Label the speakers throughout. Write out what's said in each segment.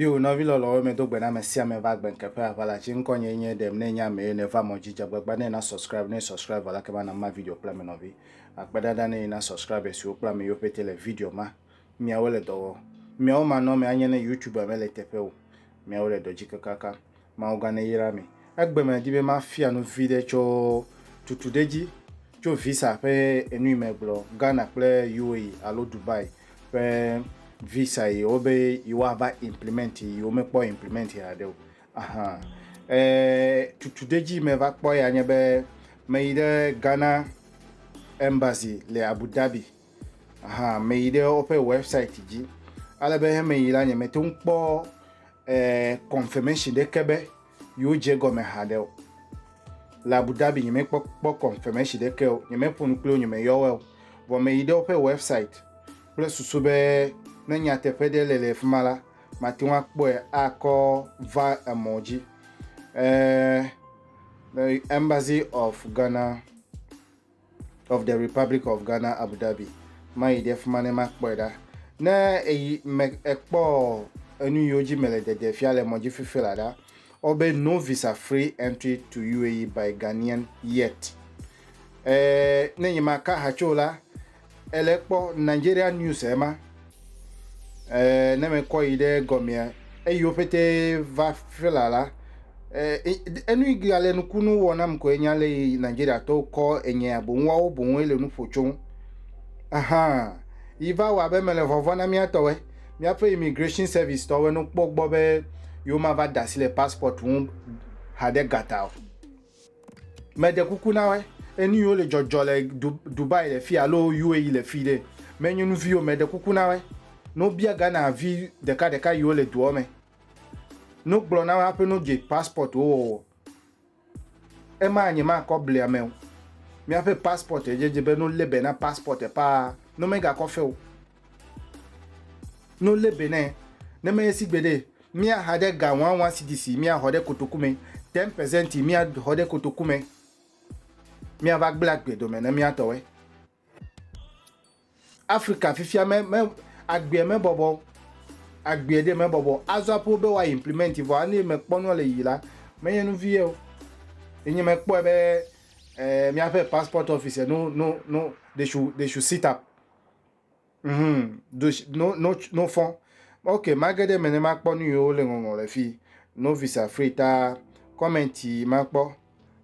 Speaker 1: Yo nɔvi lɔlɔwo me do gbe na ame sia ame va gbe nkeƒe aʋala tsi ŋkɔ nye nye ɖem ne nya me ne va mɔ dzi dzagbagba ne na subscribe ne subscribe vala kema na ma video kple ame nɔvi akpe dada ne na subscribe siwo kple ame yiwo pete le video ma miawo le dɔ wɔ miawo manɔ me anye ne youtube me le teƒe o miawo le dɔ dzi kakaka Mawu gã neyra mi. Egbe me di be mafia nu viɖe tso tutu ɖe dzi tso visa ƒe enu yi megblɔ Ghana kple UAE alo Dubai ƒe visa yiwo be yewoava implement yiwo mekpɔ implement haɖe o. Aha e tutu ɖe dzi meva kpɔ ya nye be meyi ɖe Ghana embassy le Abu Dhabi Meyi ɖe woƒe wɛbsaiti dzi ale be meyi la nyemete ŋu kpɔ kɔnfɔmɛshin ɖeke be yewodze egɔme haɖe o. Le Abu Dhabi nyemekpɔ kpɔ kɔnfɔmɛshin ɖeke o, nyemeƒo nu kpli wo, nyemeyɔ woe o. Vɔ meyi ɖe woƒe wɛbsaiti kple susu be ne nyateƒe ɖe le le fi ma la, mate ŋu akpɔe akɔ va emɔ dzi. Ɛɛ, Embassy of Ghana. of the Republic of Ghana Abu Dhabi mayi ɖe fima ne makpɔe ɖa ne eyi me ekpɔ enu yiwo dzi mele dede fia le mɔdzi fifi la ɖa wobe no visa free entry to UAE by Ghanaian yet eh, ne nyi maka hatso la Ele kpɔ Nigerian news ema eh, ne me kɔ yi ɖe gɔmea eyiwo pete va fela la eh, enu yi ga le nukunu wɔ nam ko enya le yi Nigeria tɔwo kɔ enye aboŋ wawo boŋ ele nu ƒo tso ahan yi va wɔ abe mele vɔvɔ na mía tɔwe míaƒe immigration service tɔwe no kpɔ gbɔ be yewo ma va da asi le passport ŋu ha ɖe gata o. Meɖe kuku na wé, enuyiwo le dzɔdzɔ le Dubai le fia alo UAE le fi ɖe me nyɔnu viwo, meɖe kuku na wé, ne wo bia Ghana vi ɖeka ɖeka yiwo le doɔ me, ne wo gblɔ na wé aƒe ne wo dze passport wo wɔwɔ, ema nye ma kɔ blia meo. Miaƒe passport ye dze be no lebe na passport paa, no mega kɔ feo. No le be ne ne me yesi gbede mia ha de ga wan wan si disi mia hɔ de kotoku me ten percent mia hɔ de kotoku me mia va gbla gbe do me ne mia tɔwe Africa fifia me me agbe me bɔbɔ agbe de me bɔbɔ azo apo be wa implement vɔ ani me kpɔnua le yi la me yenu vie o enye me kpɔe be eh, mia passport office no no no they should they should sit up Hum, dush, no, no, no fɔ. Ok, mage ɖe me ne makpɔ nu yiwo le ŋɔŋɔ le fi. Novice afri ta comment yi makpɔ.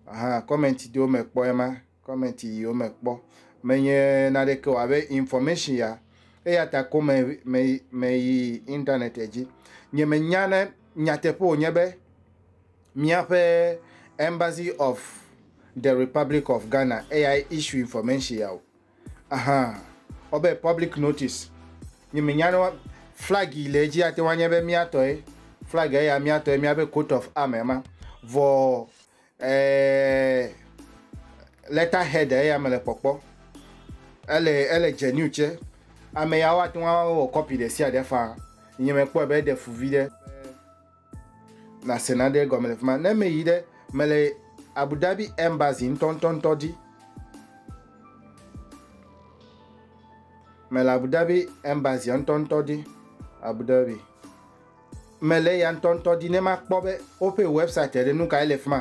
Speaker 1: Aha, comment ɖewo me kpɔ ema. Comment yiwo me kpɔ. Menye naɖeke o abe information ya. Eya ta ko me, me, me yi internet dzi. Nye me nya ne nyateƒe wònye be míaƒe Embassy of the Republic of Ghana eyae issue information ya o. Aha, wɔ be public notice. Nye me nya ne wa, flag yi le edzi ate ŋu anye be mía tɔe. Flag ya ya mía tɔe, mía be coat of arm ya ma. Vɔ eeee letter head ya ya me le kpɔkpɔ. Ele, ele genuine tsɛ. Ame ya woate ŋu awɔ copy ɖe sia ɖe faa. Nye me kpɔe be eɖe fu viɖe. Nase naɖe gɔme le fi ma. Ne meyi ɖe mele Abu Dhabi embassy ŋutɔŋutɔŋutɔ dzi. Mele Abu Dhabi embassy ŋutɔŋutɔ dzi. Abu Dhabi. Mele ya ŋutɔŋutɔ dzi ne makpɔ be woƒe website ɖe nu kae le fi ma.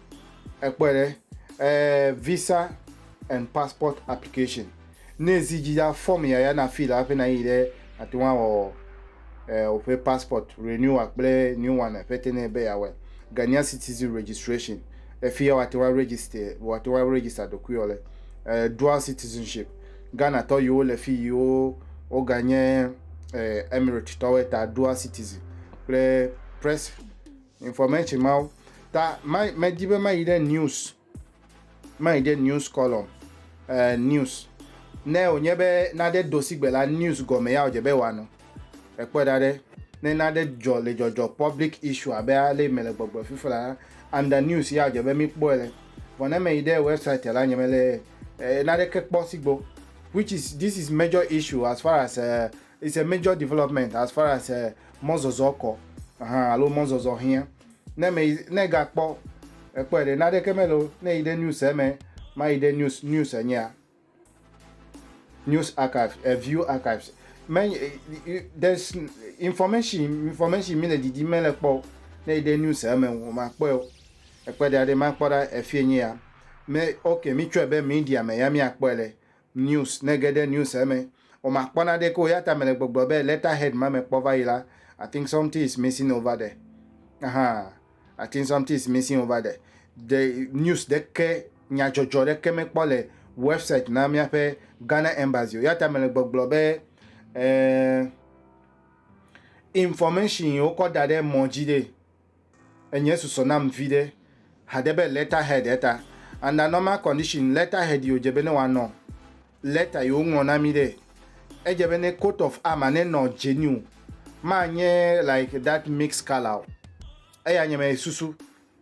Speaker 1: Ekpɔe ɖe, eh, visa and passport application. Ne zi dzi ya form ya ya na fill hafi na yi ɖe ate ŋu awɔ eh, woƒe passport renewal kple new one ƒe te ne be ya wɔ. Ghanaian citizen registration. Efi ya wate ŋu register, wate ŋu register ɖokui wɔ le. Eh, dual citizenship. Ghana tɔ yiwo le fi yiwo woga nye eh, Emirate tɔwoe ta dual citizen kple press information mawo ta medi be mayi ɖe news mayi ɖe news column eh, news ne wònye be nade dosigbe la news gɔme ya wòdze be wòanɔ ekpɔ da ɖe ne nade dzɔ le dzɔdzɔ public issue abe ale me le gbɔgblɔ fifi la under news ya wòdze be mikpɔe le vɔ ne meyi ɖe website la nye mele eh, naneke kpɔ sigbo which is this is major issue as far as uh, It's a major development as far as eh, mɔzɔzɔ kɔ hã alo mɔzɔzɔ hiã. Ne ame yi, ne egakpɔ, ekpɔe ɖe, naɖeke mele o, ne eyi ɖe news eme, mayi ɖe news, news enyea? News archives, eh, view archives. Me, eh, there's information, information mi le didi mele kpɔ o. Ne eyi ɖe news eme o, makpɔe o. Ekpɔe ɖea ɖe, makpɔ ɖa efie nye ya. Me, ok, mi tsɔe be media me ya mi akpɔe le. News, Ne ège ɖe news eme, o makpɔ naɖeke o eyata mele gbɔgblɔ be letter head ma mekpɔ va yi la, I think something is missing over there. Ahaa, I think something is missing over there. De news ɖeke, nyadzɔdzɔ ɖeke mekpɔ le website na míaƒe Ghana Embassy o eyata mele gbɔgblɔ be eh, information yi wokɔ da ɖe mɔ dzi ɖe. Enye susɔ nam viɖe haɖe be lɛta hɛd eta anda nɔma kɔndishin lɛta hɛd yi odze be ne wa nɔ lɛta yi woŋlɔ na mi ɖe. Edze be ne kot ɔf ama ne nɔ dze ni o, ma nye like dat miks kala o. Eya nye me susu.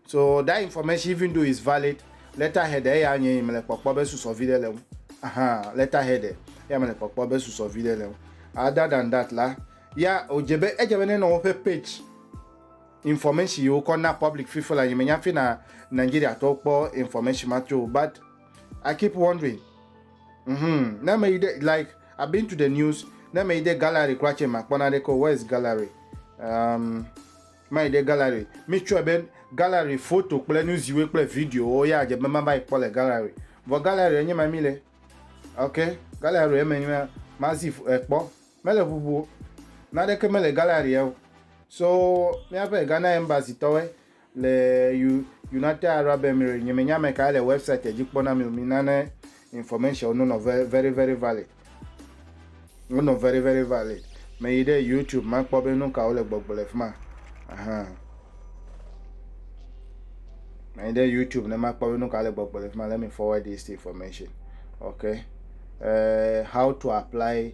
Speaker 1: So dat infɔmɛshin ivin do is valid lɛta hɛd eya nye yi me le kpɔkpɔ be susɔ viɖe le ŋu. Ahan lɛta hɛd eya me le kpɔkpɔ be susɔ viɖe le ŋu. Ada dan dat la ya odze be edze be ne nɔ woƒe pɛdz. Information yi wokɔ na public fifi la nyi menya fi na Nigeria tɔwo kpɔ information ma tso but I keep wondering mm-hmm ne me yi de like I've been to the news ne me yi de gallery kura tse ma kpɔ na ɖe ko where is gallery um, ma yi de gallery mi tsɔe be gallery photo kple nu ziwe kple video wo ya dze be ma va yi kpɔ le gallery vɔ gallery enye ma mi le ok gallery eme ma zi ekpɔ. Eh, Mele ʋuʋu o. Naɖeke mele galleria o. So míaƒe Ghana embassy tɔwoe le United Arab Emirates. Nye me nya ameka le website dzi kpɔ na mi o. Mi na ne information wo no nɔ very very valid. Wo nɔ very very valid. Me yi ɖe YouTube ma kpɔ be nukawo le gbɔgblɔ le fima. Ahan. Me yi ɖe YouTube ne ma kpɔ be nukawo le gbɔgblɔ le fima. Let me forward this information. Okay. Uh, how to apply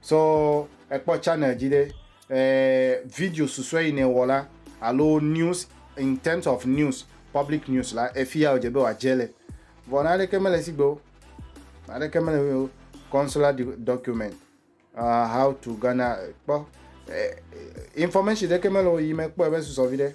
Speaker 1: So ekpɔ channel dzi ɖe eh, video susue yi ne wɔ la alo news in terms of news public news la efi ya wòdze be wòadze le vɔ na aɖeke mele si gbe o na aɖeke mele o consular document uh, how to Ghana kpɔ eh, information ɖeke mele o yi me kpɔ ebe susɔ vi ɖe.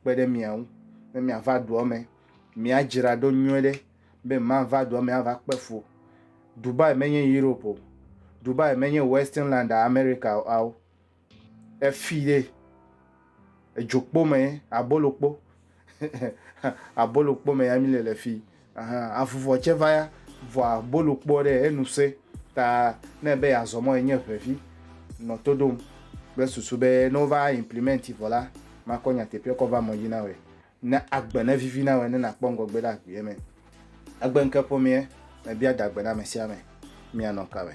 Speaker 1: kpe ɖe mia ŋu be miava dua me. Miadzra ɖo nyuie ɖe be mava dua me ava kpe fu. Dubai menye Europe o. Dubai menye Western Land America ao. Efi ɖe edzokpo me abolokpo abolokpo me ya mi le le fi. Ɛhɛ, avuvɔ tsɛ va ya, vɔa bolo kpɔ ɖɛ, enu sẽ, ta ne ebe yeazɔ mɔ enye ŋɛvi nɔ to ɖom kple susu be ne wova implimɛnti vɔ la, makɔ nyateƒeɛ kɔ va mɔ dzi nawɛ, ne agbe ne vivi nawɛ ne nakpɔ ŋgɔgbe ɖe agbeɛ mɛ. Egbeŋke ƒomeɛ me bia dagbe na amɛsiame, mianɔ kawɛ?